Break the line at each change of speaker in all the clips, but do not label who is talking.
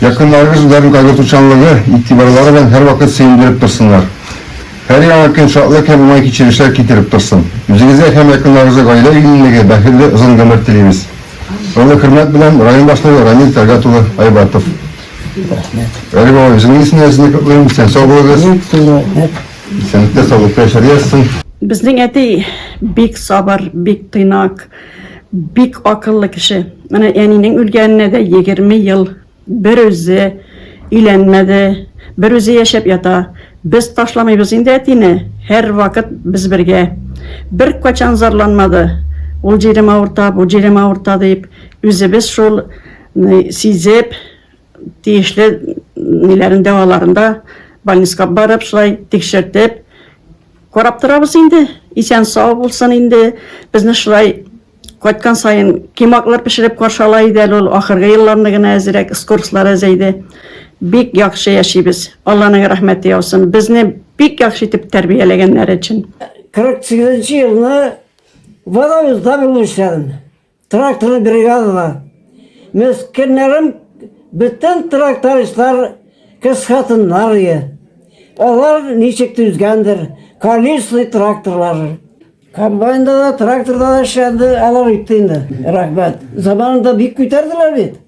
Якыннарыгыз үзләрен кайгыртучанлыгы, игътибарлары белән һәрвакыт сөендереп торсыннар. Һәр яңа көн шатлык һәм уңай кичерешләр китереп торсын. Үзегезгә һәм якыннарыгызга гаилә иминлеге, бәхетле озын гомер телибез. Олы хөрмәт белән, район башлыгы Рамил Тәлгат улы Айбатов. Әле бабай, үзеңнең исемнән дә сезне котлыйм. Исән сау булыгыз. Исәнлектә, саулыкта яшәргә язсын. Безнең әти
бик сабыр, бик тыйнак. Бик акыллы кеше. Менә әнинең үлгәненә дә 20 ел. Бер үзе өйләнмәде, бер үзе яшәп ята. Без ташламыйбыз инде әтине, һәрвакыт без бергә. Беркайчан зарланмады, ул җирем авырта, бу җирем авырта дип. Үзебез шул сизеп, Тиешле ниләрен дәваларын да больниска барып шулай тикшертеп карап торабыз инде. Исән сау булсын инде. Безне шулай кайткан саен кимаклар пешереп каршала иде әле ул ахыргы елларны гына әзерәк скорслар әзәйде. Бик яхшы яшибез. Алланың рәхмәте яусын. Безне бик яхшы итеп тәрбияләгәннәр өчен. 48
елны барабыз да Тракторный бригадада. Мескеннәрем бөтен трактористлар кыз хатыннар ие. Алар ничек түзгәндер, колесный тракторлары. Комбайнда да, тракторда да эшләнде, алар үтте инде. Рәхмәт. Заманында бик күтәрделәр бит.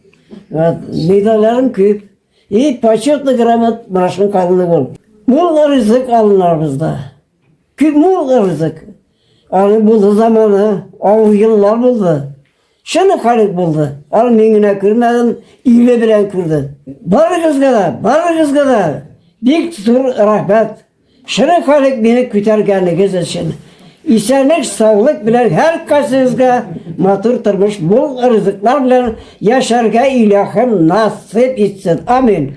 Медальләрем күп. И почетный грамот башым калыны бул. Мулла ризык алынарбызда. Күп булгырдык. Аны булды заманы, авыр еллар булды. Шуны халык булды. Аны мин генә күрмәдем, иле белән күрде. Барыгызга да, барыгызга да бик зур рәхмәт. Шуны халык мине күтәргәнегез өчен. Исәнлек, саулык белән һәр кайсыгызга матур тормыш, мул ризыклар белән яшәргә илаһым насыйп итсен. Амин.